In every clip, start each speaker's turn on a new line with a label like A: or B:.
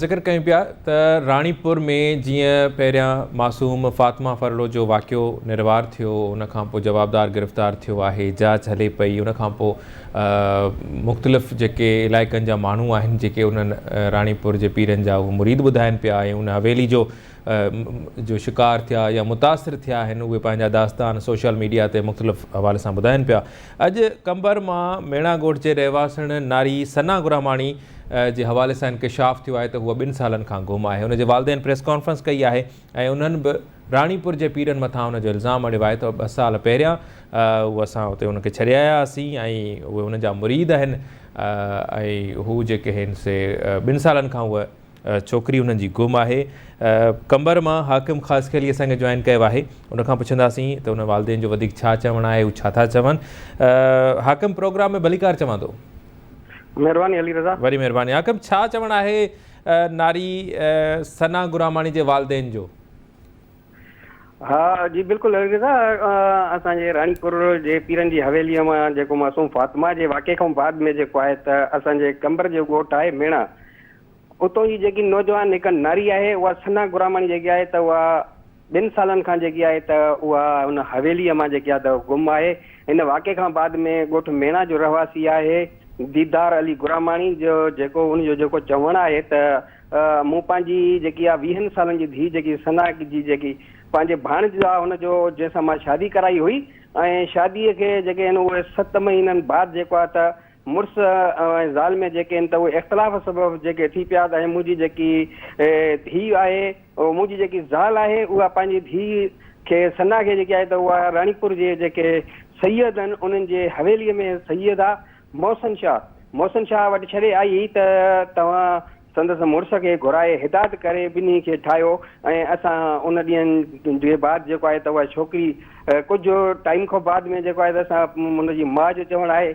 A: ذڪر ڪيون پيا ته راڻي پور ۾ جيئن پهريان معصوم فاطمه ڦرلو جو واقعو نروار ٿيو ان کان پوء جوابدار گرفتار ٿيو آهي جاچ هلي پئي ان کان پوء مختلف جيڪي علائقن جا ماڻهو آهن جيڪي انهن راڻي پور جي پيرن جا اهي مريد ٻڌائن پيا ۽ ان حويلي جو جو شڪار ٿيا يا متاثر ٿيا آهن اهي پنهنجا داستان سوشل ميڊيا تي مختلف حوالي سان ٻڌائن پيا اڄ قمبر مان ميڻا ڳوٺ جي رهواسڻ ناري ثنا گراماڻي جي حوالي سان انڪشاف ٿيو آهي ته هوء ٻن سالن کان گم آهي هن جي والدين پريس ڪانفرنس ڪئي آهي ۽ انهن به راڻيپور جي پيرن مٿان ان جو الزام اڻيو آهي ته ٻه سال پهريان هو اسان اتي ان کي ڇڏي آيا هئاسين ۽ اهي ان جا مريد آهن ۽ هو جيڪي آهن سي ٻن سالن کان هوء ڇوڪري انهن جي گم آهي قمبر مان حاڪم خاصخيلي اسان کي جوائن ڪيو آهي ان کان پڇنداسين ته انهن والدين جو وڌيڪ ڇا چوڻ آهي هو ڇا ٿا چون حاڪم پروگرام ۾ ڀليڪار چوان ٿو. مھرباني
B: علي رضا. وڏي مھرباني حاڪم ڇا
A: چوڻ آھي ناري ثنا غراماڻي جي والدين جو. ها
B: جي بلڪل علي رضا اسان جي راڻي پور جي پيرن جي حويلي مان جيڪو معصوم فاطمه جي واقعي کان بعد ۾ جيڪو آھي ته اسان جي قمبر جو ڳوٺ آھي ميڻا اتو جي جيڪي نوجوان ھڪ ناري آھي اھا ثنا غراماڻي جيڪي آھي ته اھا ٻن سالن کان جيڪي آهي ته اها ان حويليء مان جيڪي آهي ته گم آهي. ان واقعي کان بعد ۾ ڳوٺ ميڻا جو رهواسي آهي ديدار علي گراماڻي جو جيڪو ان جو جيڪو چوڻ آهي ته مون پنهنجي جيڪي آهي ويهن سالن جي ڌيء جيڪي ثنا جي جيڪي پنهنجي ڀاڻج آهي ان جو جنهن سان مان شادي ڪرائي هئي ۽ شاديء کي جيڪي آهن اهي ست مهينن بعد جيڪو آهي ته مڙس ۽ زال ۾ جيڪي آهن ته اهي اختلاف سبب جيڪي ٿي پيا ته ۽ منهنجي جيڪي ڌيء آهي او منهنجي جيڪي زال آهي اها پنهنجي ڌيء کي ثنا کي جيڪي آهي ته اها راڻيپور جي جيڪي سيد آهن انهن جي حويليء ۾ سيد آ محسن شاهه محسن شاهه وٽ ڇڏي آئي ته توهان سندس مڙس کي گهرائي هدايت ڪري ٻنهي کي ٺاهيو ۽ اسان ان ڏينهن جي بعد جيڪو آهي ته اها ڇوڪري ڪجهه ٽائيم کان بعد ۾ جيڪو آهي ته اسان ان جي ماء جو چوڻ آهي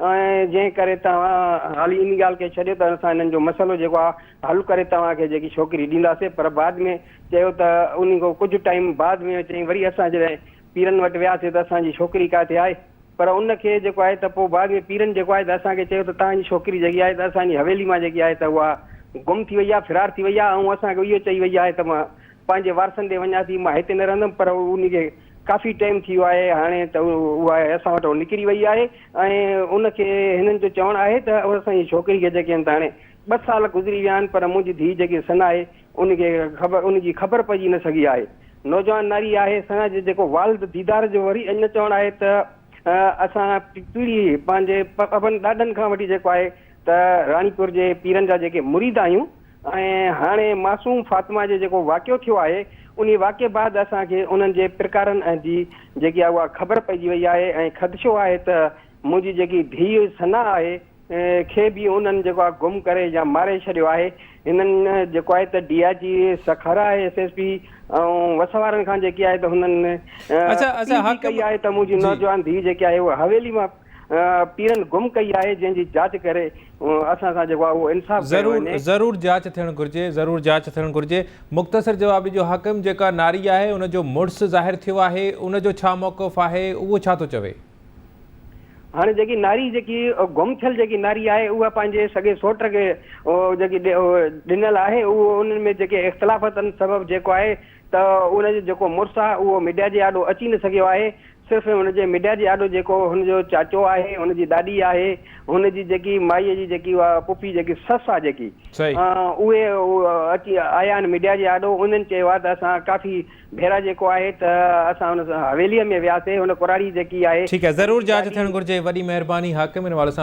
B: ۽ جنهن ڪري توهان هالي ان ڳالهه کي ڇڏيو ته اسان هنن جو مسئلو جيڪو آهي حل ڪري توهان کي جيڪي ڇوڪري ڏينداسين پر بعد ۾ چيو ته ان کان ڪجهه ٽائيم بعد ۾ چيائين وري اسان جڏهن پيرن وٽ وياسين ته اسان جي ڇوڪري ڪاٿي آهي پر ان کي جيڪو آهي ته پوء بعد ۾ پيرن جيڪو آهي ته اسان کي چيو ته توهان جي ڇوڪري جيڪي آهي ته اسان جي حويلي مان جيڪي آهي ته اها گم ٿي وئي آهي فرار ٿي وئي آهي ۽ اسان کي اهو چئي وئي آهي ته مان پنهنجي وارثن ڏي وڃان ٿي مان هتي نه رهندم پر ان کي ڪافي ٽيم ٿي ويو آهي هاڻي ته اها اسان وٽان نڪري وئي آهي ۽ ان کي هنن جو چوڻ آهي ته اسان جي ڇوڪري کي جيڪي هن ته هاڻي ٻه سال گذري ويا آهن پر منهنجي ڌيء جيڪي سنا آهي ان کي خبر ان جي خبر پئجي نه سگهي آهي نوجوان ناري آهي سنا جي جيڪو والد ديدار جو وري اڃا چوڻ آهي ته اسان پيڙهي پنهنجي ابن ڏاڏن کان وٺي جيڪو آهي ته راڻيپور جي پيرن جا جيڪي مريد آهيون ۽ هاڻي معصوم فاطمه جو جيڪو واقعو ٿيو آهي، انهي واقعي بعد اسان کي انهن جي پرڪارن جي جيڪي آهي اها خبر پئجي وئي آهي ۽ خدشو آهي ته منهنجي جيڪي ڌيء ثنا آهي کي به انهن جيڪو آهي گم ڪري يا ماري ڇڏيو آهي. هنن جيڪو آهي ته ڊي آء جي سکر آهي ايس ايس پي ۽ وس وارن کان جيڪي آهي ته هنن اپيل به ڪئي آهي ته منهنجي نوجوان ڌيء جيڪي آهي اها حويلي مان پيرن گم ڪئي آهي جنهن جي جاچ ڪري اسان سان جيڪو آهي اهو انصاف ڪيو ضرور وڃي. ضرور جاچ
A: ٿيڻ گهرجي ضرور جاچ ٿيڻ گهرجي مختصر جواب ڏجو حاڪم جيڪا ناري آهي ان جو مڙس ظاهر ٿيو آهي ان جو ڇا موقف آهي اهو ڇا ٿو چوي.
B: هاڻي جيڪي ناري جيڪي گم ٿيل جيڪي ناري آهي اها پنهنجي سڳي سوٽ کي جيڪي ڏنل آهي اهو انهن ۾ جيڪي اختلافاتن سبب جيڪو آهي ته ان جو جيڪو مڙس آهي اهو ميڊيا جي آڏو اچي نه سگهيو آهي، صرف ۽ هن جي ميڊيا جي آڏو جيڪو هن جو چاچو آهي، هن جي ڏاڏي آهي، هن جي جيڪي مائيء جي جيڪي اها پڦي جيڪي سس آهي جيڪي صحيح. اهي اچي آيا آهن ميڊيا جي آڏو، انهن چيو آهي ته اسان ڪافي ڀيرا جيڪو آهي ته اسان هن حويليء ۾
A: وياسي،
B: هن
A: ڪراڙي جيڪي آهي
B: ٺيڪ
A: آهي
B: ضرور
A: جاچ ٿيڻ گهرجي
B: وڏي
A: مهرباني حاڪم
B: ان حوالي
A: سان.